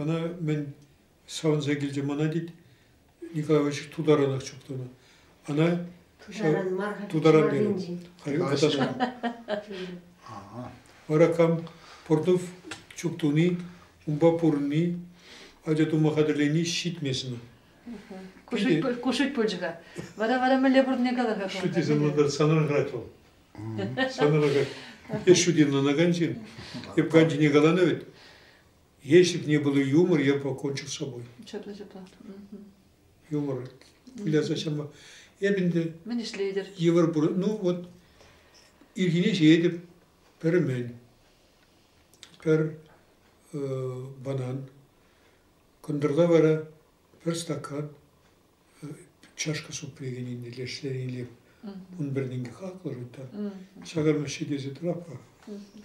Ӑна мӗн савӑнса килчӗ мана тет. Николаевич тутаранах чухланӑ. Ӑна тутаран мар-ха. Тутаран терӗ. Вара кам Портнов чуп туни, унпа пурӑнни, ача тума хатӗрлени ҫитмесен. Кушить пулчӗ-ха. Вара вара мӗнле пурӑнни кала-ха. Что тебе надо санран жрать вӑл? Сан араках ҫутин ӑнакан ҫын. Эп канчине каланӑ вӗт. Если бы не было юмор, я бы покончил с собой. Чӑтлӑ чӑтлӑ. Юмор. Выляса чама. Эп инде... Мӗн ӗҫлетӗр? Йывӑр пур. Ну вот, ирхине ҫиетӗп, пӗр мӗн, пӗр банан, кӑнтӑрла вара пӗр стакан, чашка супрегенине лешлениле ун пӗрнинке хаклӑр унта. Сакӑрмаҫҫи тесе тураппа.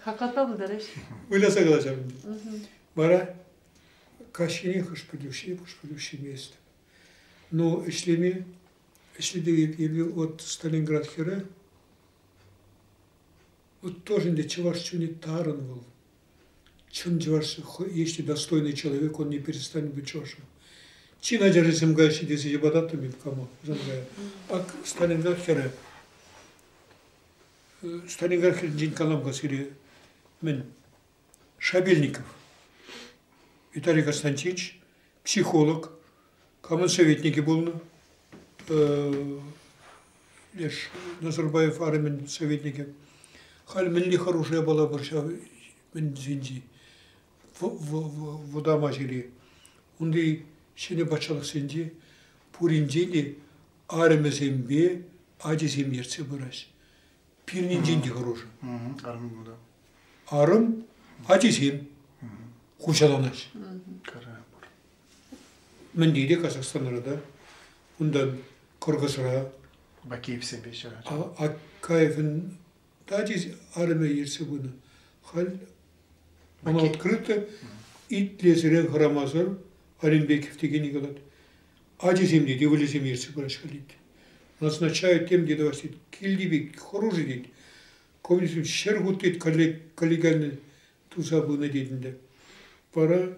Хаката пултарӑҫ. Выляса калаҫам. Вара каҫхине хӑшпӗтӳҫи, хӑшпӗтӳҫи мест. Но ӗҫлеме, ӗҫлетег эпе вот Сталинград хӗрӗ, вот тоже ӗнтӗ чӑваш чунӗ тарӑн вӑл. Чӑн чӑваш, есть достойный человек, он не перестанет быть чӑвашем. Чин ачашӗсем каҫҫи тесе йӑпататтӑм эп кому Жанкая. Ак Сталинград хӗрӗ. Сталинград хӗрӗнчен калам касире мӗн Шабельников, Виталий Константинович, психолог, Камӑн советникӗ пулнӑ? Леш Назарбаев армин советникӗ. Халь мӗнли хӑрушӑ япала пур ҫав мӗн тесенчи вӑтама ҫӗре. Унти ҫӗнӗ патшалӑхсенче пуринчен те арӑмӗсемпе ачисем ертсе пыраҫ. Пирӗнчен те хӑрушӑ. Арӑм кунта. Арӑм ачисем куҫаланаҫ. Кара пур. Мӗнти те Казахстанра та. Унтан Кӑркӑсра. Бакеевсемпе ҫыратчӗ. Акаевӑн тати арӑмӗ ертсе пынӑ. Халь она открыто итлесерен хӑрамасӑр Алимбеков текенни калать. Ачисем те, девулисем ертсе пыраҫҫӗ халит. Назначают тем те тӑвас тет. Килти пек хӑрушӑ тет. Коммунизм ҫӗр хут тет, каллегальный туса пынӑ тет ӗнтӗ. Вара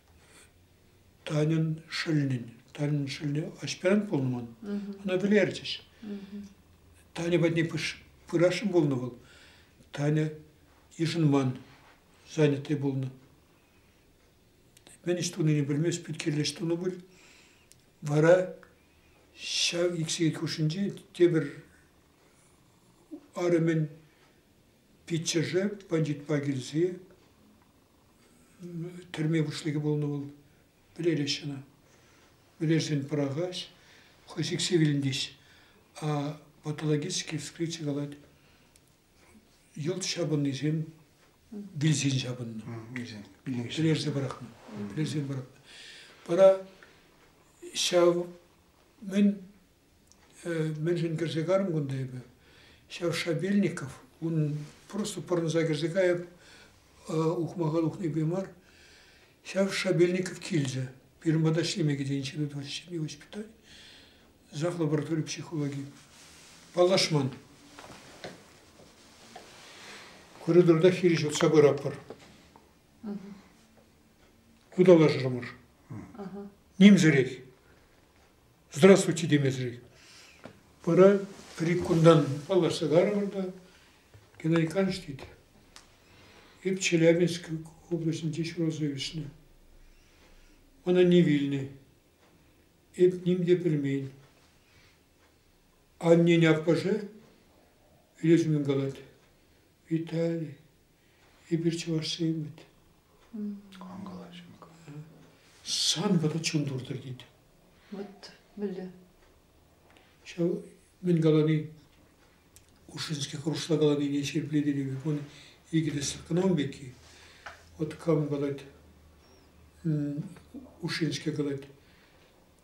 Таньӑн шӑллӗн, Таньӑн шӑллӗ аҫпаран пулнӑ вӑл, ӑна вӗлерчӗҫ. Таня патне пырасшӑн пулнӑ вӑл. Таня йышӑнман, занятый пулнӑ. Мӗн ӗҫ тунине пӗлмест, пӳт-кирлӗ ӗҫ тунӑ пуль. Вара ҫав иксӗке хушшинче тепӗр арӑмӗн Пиччӗшӗ бандитпа килсе тӗрме пуҫлӑхӗ пулнӑ вӑл. Пӗлерӗҫ ӑна. Пӗлерсен пӑрахаҫ, хӑй сиксе вилӗнтӗҫ. А по-патологически вскрытие калать, йӑлт ҫапӑннисем вилсен ҫапӑннӑ. Вилсен, пӗлерсе пӑрахнӑ. Пӗлерсен пӑрахнӑ. Вара ҫав мӗн Мӗншӗн кӗрсе карӑм кунта эпӗ? Ҫав Шабельников, унӑн просто пӑрӑнса кӗрсе кайӑп, ухмаха тухнипе мар. Ҫав Шабельников килчӗ. Пирӗн пата ӗҫлеме кӗтенчӗ Эдуард Ҫемье воспитани, зах лаборатори психологии. Паллашман. Коридорта хирӗҫ утса пыратпӑр. Ыталашрӑмӑр. Нимсӗрех. здравствуйте темесӗрех. Пора риккунтан паллашса карӑпӑр та Геннадий Иванович тет. Эп Челябинск облаҫӗнче ҫуралса ӳснӗ. Мана не вилнӗ. Эп ним те пӗлмен. Аннен аппӑшӗ лешмен калать. Виталий, Эпир чӑвашсем вӗт. Кам калаҫӑн? Сан вара чун туртӑр тет. Вот мӗнле. Ҫав мӗн калани Ушинский хӑрушла каланине ҫирӗплетекен вун икӗ тӗслӗх кӑна пекки. Вот кам калать, Ушинский калать,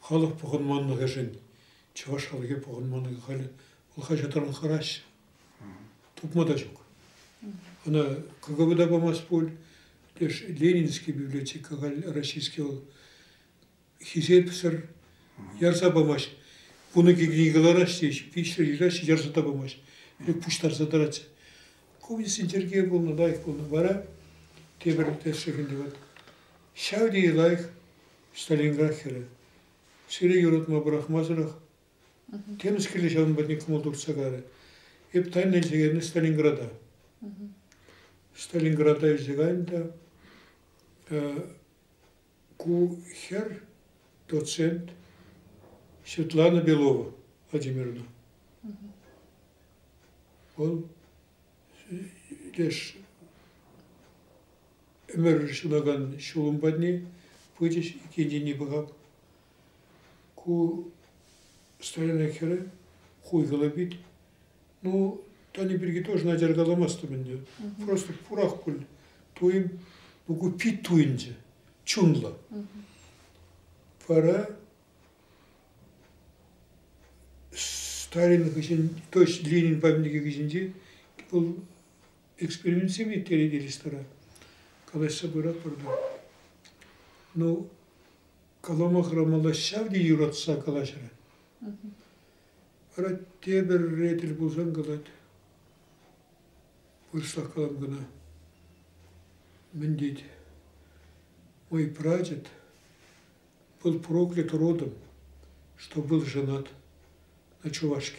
Халӑх пухӑнманлӑхӗшӗн чӑваш халӑхӗ пухӑнманлӑхӗ халь хӑҫатранах хӑраҫҫӗ. Тупма та ҫук. Ӑна КГБ та памасть пуль, леш Ленинский библиотека халь российский вӑл хисепсӗр ярса памасть. Вун икӗ кӗнеке кӑлараҫҫӗ те, виҫҫӗ ҫыраҫҫӗ, ярса та памасть. Ӗлӗк пуҫтарса тӑратчӗ. Ку Винсент Сергей пулнӑ, лайӑх пулнӑ. Вара тепӗр тӗслӗх ӗнтӗ. Ҫав тери лайӑх Сталинград хӗрӗ. Сире юратма пӑрахмасӑрах темӗс киле ҫавӑн патне кӑмӑл туртса карӗ. Эп тайна илсе кайнӑ Сталинграда. Сталинграда илсе кайнӑ та ку хӗр, доцент Светлана Белова Владимировна. Вӑл леш Ӗмӗр ҫунакан ҫулӑм патне пычӗҫ иккен тени пӑхап. Ку старина хӗрӗ хуйхӑллӑ пит. Ну, Тани пирки тоже начар каламастӑм ӗнтӗ. Просто пурах пуль туйӑм. Ну, ку пит туйӑнчӗ, чунлӑ. Вара старин хыҫӗн, то есть Ленин памятникӗ хыҫӗнче вӑл экспериментсем ирттерет ресторан. Калаҫса пыратпӑр та. Ну, калама хӑрамалла ҫав те юратса калаҫрӗ. Вара тепӗр ретель пулсан калать. Вырӑслах калам кӑна. Мӗн тет? Мой прадед был проклят родом, что был женат на чувашке.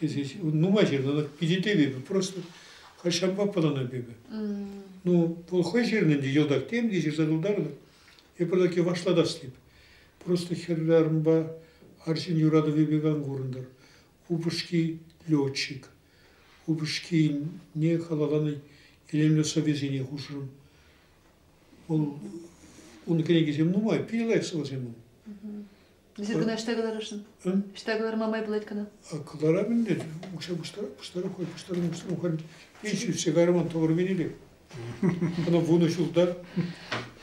Тесе нумай ҫырнӑ, питӗ тӗвӗпӗ, просто халь ҫавӑнпа пӑлӑнать эпӗ. Ну, вӑл хӑй ҫырнӑ ӗнтӗ, йӑлтах тем те ҫырса тултартӑм. Эпир таки вашлатас теп. Просто хӗрарӑмпа арҫын юратӑвӗпе кан курӑнтӑр. Упӑшки летчик. Упӑшкине халалланӑ илемлӗ сӑвӑсене хушрӑм. Вӑл, ун кӗнекисем нумай, питӗ лайӑх сӑвӑсем ун. Эсир кӑна ӑҫта кӑларасшӑн? Ӑҫта кӑларма май пулать кӑна? Кӑларам ӗнтӗ. Укҫа пуҫтарать, пуҫтарать, хӑй пуҫтарнӑ пуҫтарнӑ. Пит ҫӳрсе кайрӑман тӑвӑр венелек. Ӑна вунӑ ҫулта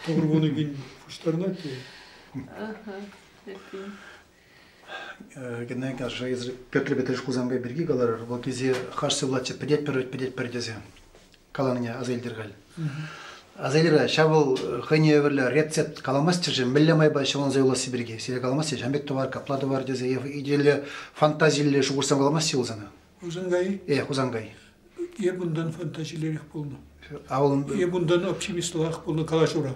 тӑвӑр вунӑ кин пуҫтарнать те. Ага, эппин. Кӗнеке ашшӗ эсир Петр Петрович Хусанкай пирки каларӑр. Вот тесе хаш сывлатчӗ, пӗтетпӗр, пӗтетпӗр тесе. каланине аса илтӗр халь. Аса илӗр, ҫав вӑл хӑйне евӗрлӗ рецепт каламастчӗ-ши, мӗнле майпа ҫӑлӑнса юласси пирки сире каламастчӗ, ҫам пек тӑвар, капла тӑвар тесе е идейле, фантазилле шухӑшсем каламастчӗ вӑл сана? Хусанкай? Э, Хусанкай. Эп унтан фантазилерех пулнӑ. А вӑл... Эп унтан оптимистлӑрах пулнӑ калаҫура.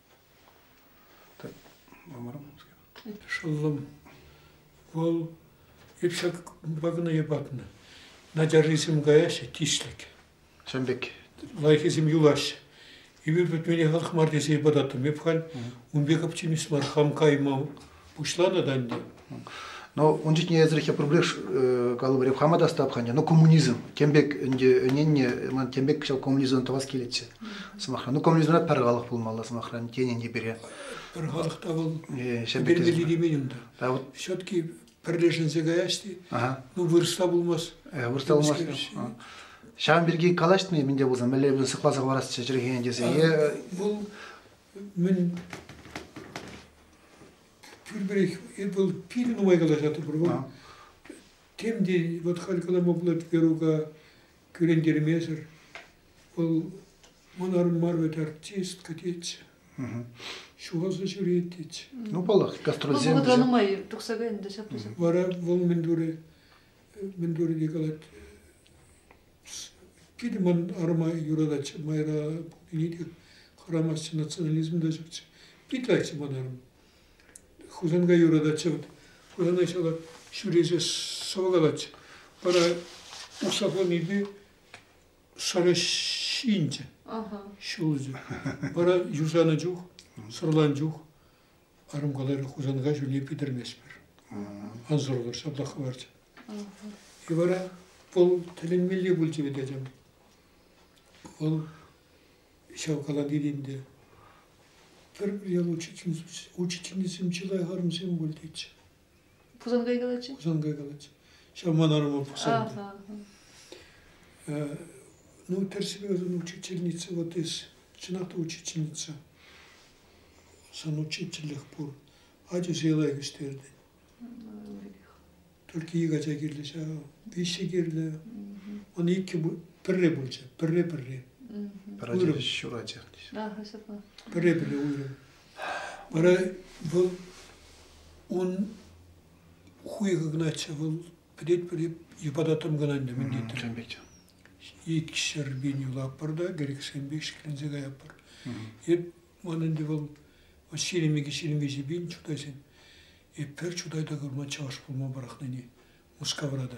шӑллӑм вӑл эпсе кӑна йӑпатнӑ начаррисем каяҫҫӗ тислӗк чӑн пек лайӑххисем юлаҫҫӗ эпир пӗтмене хӑлх мар тесе йӑпататтӑм эп халь ун пек оптимист мар хам каймам Пуҫланӑ та ӗнтӗ. Но ун чухне эсрехе проблеш калӑпӑр хама та стапханне, но коммунизм тем пек ӗнтӗ ӗненне ман тем пек ҫав коммунизмдан тӑвас килетчӗ сӑмахра. Ну коммунизмра пӗр халӑх пулмалла сӑмахран тенӗн те пире. Пӗр халӑх та вӑл пермелли темен унта. Да вот все-таки пӗрлешӗнсе каясти. Ну вырӑсла пулмас. Вырӑсла пулмас. Ҫавӑн пирки калаҫтӑм-и минте пулсан мӗнле сыхласа хӑварасчӗ чӗлхене тесе. Вӑл мӗн пирперех эпл пин нумай калаҫатӑпӑр вӑл тем те вот халь калама пулать Верука кӳрентермесӗр вӑл манарӑн мар вӗт артист катец ҫухалса ҫӳрет тет ну паллах гастрольсем вӑхӑтра нумай тухса кайнӑ та ҫапла ҫапла вара вӑл мӗн турӗ мӗн турӗ те калать Питӗ ман арӑма юратать, майра пулнине те хӑрамастчӗ, национализм та ҫукчӗ. Пит лайкчӗ ман арӑм. Хусанкай юрататчӗ. Вот Хусана ҫала ҫӳресе сӑвӑкалатчӗ. Вара уксахланипе сӑрӑ ҫинчӗ. Ҫулчӗ. Вара юсанӑ чух, сӑрлан чух Арӑм каларӗ, Хусанка ҫулне питӗрместпӗр. Ӑнсӑрлӑх ҫаплах хӑварчӗ. И вара вӑл тӗлӗнмелли пулчӗ вӗт, ачам. Вӑл ҫав каланин ӗнтӗ пӗр-пӗр ял учительницисем чылай арӑмсем пуль тетчӗ. Хусанкай калатчӗ. Хусанкай калатчӗ. Ҫав ман арӑма пӑхсан. Ну, тӗрсипе ӑсӑн учительница вот из, чӑнах та учительница. Сан учительлӗх пур. Ача сыйлай кӗҫтерден. Только ик ача кирлӗ ҫав. Виҫҫе кирлӗ. Он иккӗ пӗрре пулчӗ. Пӗрре-пӗрре. Пӗр ача ҫур ача. Пӗрре-пӗрре уйрӑм. Вара вӑл ун хуйхӑ кӑначчӗ, вӑл пӗтетпӗр йӑпататтӑм кӑна ӗнтӗ мӗн тетӗр. Тем пек. Икӗ ҫӗр пин юлатпӑр та кӗрӗксем пек ҫӗкленсе каятпӑр. Эп ман ӗнтӗ вӑл ҫирӗм икӗ, ҫирӗм виҫӗ пин чутайсен. Эп пӗр чутай та курман чӑваш пулма пӑрахнине. Мускавра та.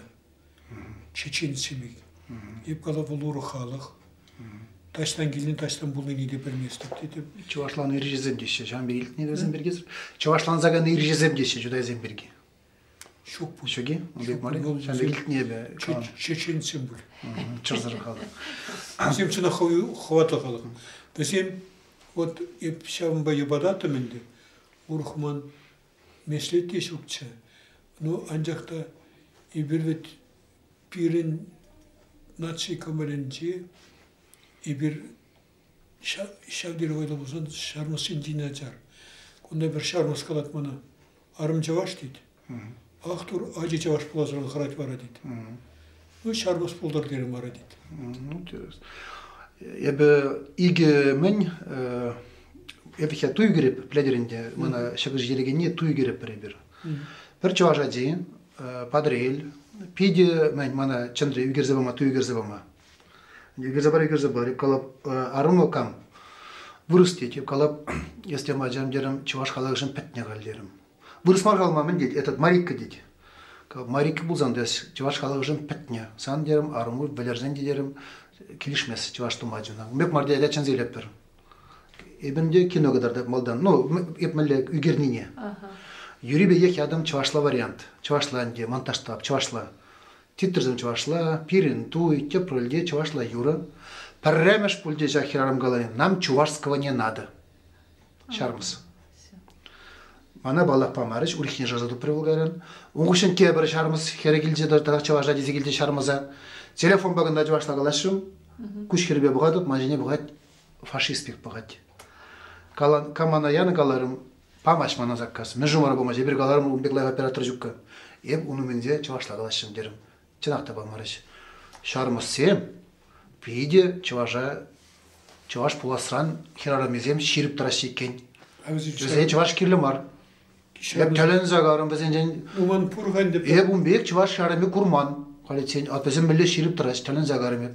Чечен семей. Эп кала вӑл урӑх халӑх. Таҫтан килни таҫтан пулнине те пӗлместӗп тетӗп. Чӑвашлан ирҫесем теҫҫӗ, ҫавӑн пирки илтнӗ вӗсем пирки. Чӑвашлансакан ирҫесем теҫҫӗ чутайсем пирки. Ҫук пуль. Ҫук-и? Ун пек мар Ҫавӑн пек илтнӗ эпӗ. Чеченсем пуль. Чӑрсӑр халӑх. Вӗсем чӑнах хӑватлӑ халӑх. Вӗсем вот эп ҫавӑнпа йӑпататтӑм ӗнтӗ. Урӑх ман меслет те ҫукчӗ. Ну, анчах та эпир вӗт пирӗн наци кӑмӑлӗнчи эпир ҫав тери вӑйлӑ пулсан ҫармӑс ҫинчен начар. Кунта пӗр ҫармӑс калать мана, арӑм чӑваш тет. Ахтур ачи чӑваш пуласран хӑрать вара тет. Ну, ҫарпӑс пултӑр терӗм вара тет. Интересно. Эпӗ икӗ мӗн эпӗ хе туй кӗреп пӗлетӗр ӗнтӗ мана ҫӑкӑр ҫитерекенне туй кӗреппӗр эпир пӗр чӑваш ачи Патӑрел питӗ мӗн мана чӑнри ӳкерсе пама туй ӳкерсе пама ӳкерсе пар ӳкерсе пар калап арӑмлӑ кам вырӑс тет калап эс тем ачам терӗм чӑваш халӑхӗшӗн пӗтнӗ халь терӗм Вырӑс мар калма мӗн тет, этот Марикка тет. Марикка пулсан та чӑваш халӑхӗшӗн пӗтнӗ. Сан терӗм, арӑму вӗлерсен те терӗм, килӗшмест чӑваш тума чуна. Мек мар тетя чӗнсе илетпӗр. Эпӗн те кино кӑтартать малтан. Ну, эп мӗнле ӳкернине. Юри пекех ятӑм чӑвашла вариант. Чӑвашла ӗнтӗ, монтажтап, чӑвашла. Титрсем чӑвашла, пирӗн туй, тӗпрелте чӑвашла юрӑ. Пӗрремӗш пулчӗ ҫак хӗрарӑм калани, нам чувашского не надо. Ҫармӑс. Мана паллах памарӗҫ, урӑххине шыраса тупрӗ Булгарин. Ун хыҫҫӑн тепӗр ҫармӑс хӗрӗ килчӗ тата чӑваша тесе килчӗ ҫармӑса. Телефонпа кӑна чӑвашла калаҫрӑм. Куҫ хӗрпе пӑхатӑп, ман ҫине пӑхать фашист пек пӑхать. Калан, камана янӑ каларӑм, памасть мана заказ. Мӗн шумара памасть, эпир каларӑмӑр, ун пек лайӑх оператор ҫукка. Эп ун умӗнче чӑвашла калаҫрӑм терӗм. чӑнах та памарӗҫ. Ҫармӑссем питӗ чӑваша чӑваш пуласран хӗрарӑмӗсем ҫирӗп тӑраҫҫӗ иккен. Вӗсен чӑваш кирлӗ мар. Эп тӗлӗнсе карӑм вӗсенчен. Уман пур ха ӗнтӗ. Эп ун пек чӑваш ҫарӑмӗ курман. Халиччен, а вӗсем мӗнле ҫирӗп тӑраҫ, тӗлӗнсе карӑм эп.